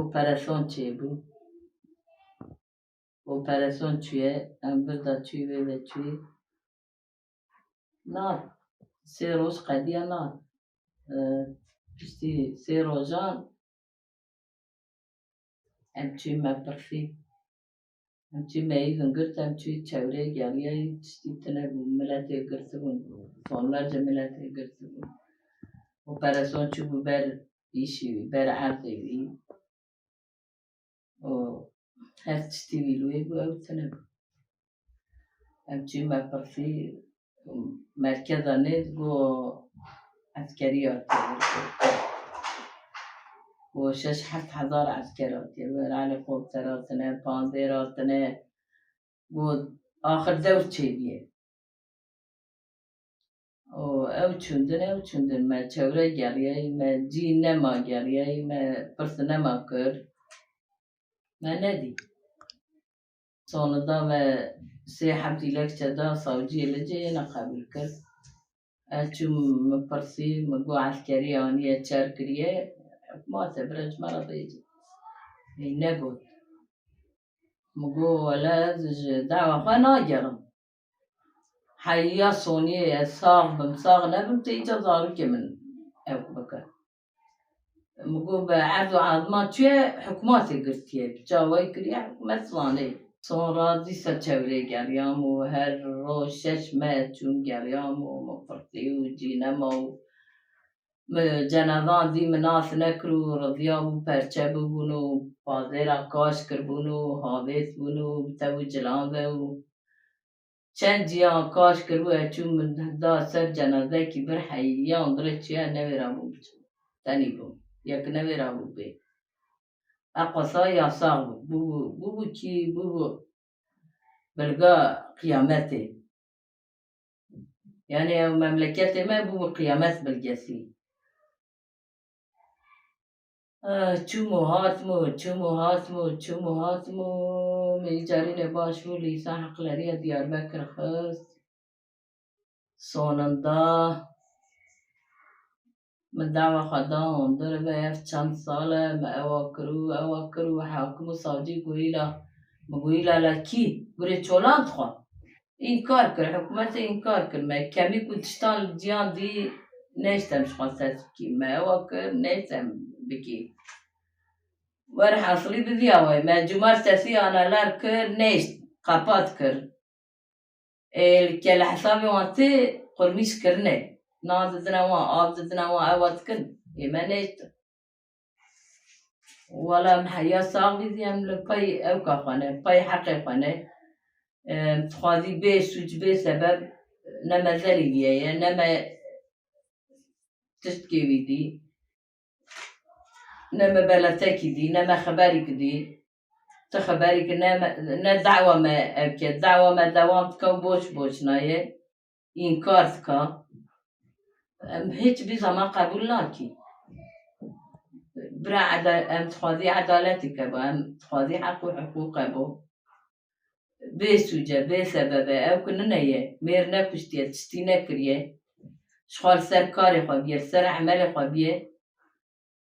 Operasyon çêbû. Operasyon çûye, em birda çû wê ve çû. Na sê roj qediya na piştî sê rojan em çû me pirsî. Hincî meyivin girt em çûyî çewrê geliyayî tiştî tune bû miletê girtibûn sonlerce miletê girtibûn û pereson çûbû ber îşî wî ber erdê wî û her tiştî wî li wê bû ew tune bû. Em çûyî me pirsî merkeza nê go eskerî hatiye go şeş heft hezar esker hatiye wê re helîkopter hatine pandêr hatine go axir dewr çêbîye û ew çûndin ew çûndin me çewre geriyayî me cî nema geriyayî me pirsinema kir me nedî Sonida me sê heft dîlekçe da savciyê li cihê ne qebûl kir. Ez çûm min pirsî, min got eskerî aniye çer kiriye, ma te bire ji me re bêje. Hîn negot. Min got wele ez ji dawa xwe nagerim. Heya soniyê ez sax bim sax nebim tê îca zarokê min ew bike. Mugû be Erdogan zima çi ye hikûmatê girtiye. Çawayî kiriye hikûmet zanê. Sonra dîsa çewrê geriyam û her roj şeş me çûm geriyam û min firtî û cî nema û min cenazan zî min nas nekir û riziya bû perçe bibûn û pazêra kaş kiribûn û havês bûn û bi tev û cilan ve û Çend ciyan kaş kiribû ez çûm min da ser cenazekî vir heyî yan vire çiya newêrabûm biçim tenî bûm ya ki newêrabû bê eqasa ya sax bû bûbû bûbû çî bûbû bilga qiyametê yanî ew memleketê me bûbû qiyamet bilgesî. Çûm û hatim û çûm û hatim û çûm û hatim û min yê carînê baş bû lîsa heqleriya Diyarbekir xist soninda min dawa xwe da hundir ve ev çend sal e min ewa kir û ewa kir û hakim û savcî goyîla min goyîla la kî gurê çolan dixwe. Înkar kir, hikûmetê înkar kir me kemî ku tiştan li diyan dî nêştem ji xwe ser bikî me ewa kir nêştem bikî. Werhesilî bi vî awayî me cumar sesî analar kir nêşt qepat kir. Ê li kelehesabê wan tê qurmîşkirinê nan didine wan, av didine wan ewa dikin ê me nêştin. Wala em heya savî zî em li pey ewka xwe ne, pey heqê xwe ne. Em dixwazî bê sûc bê sebeb ne me zelî diyeye ne me tiştkê wî dî. Ne me beletekî dî ne me xeberîk dî. Ti xeberîk ne me ne dawa me ev ke dawa me dewam dike û boş boş naye. înkar dika em hiçbî zama qebûl nakî. Bira em dixwazî edaletê kebo em dixwazî heq û hiqûq kebo. Bê sûce bê sebebe ew ku nine ye mêr nekuştiye tiştî nekiriye ji xwe li ser karê xwe biye li ser emelê xwe biye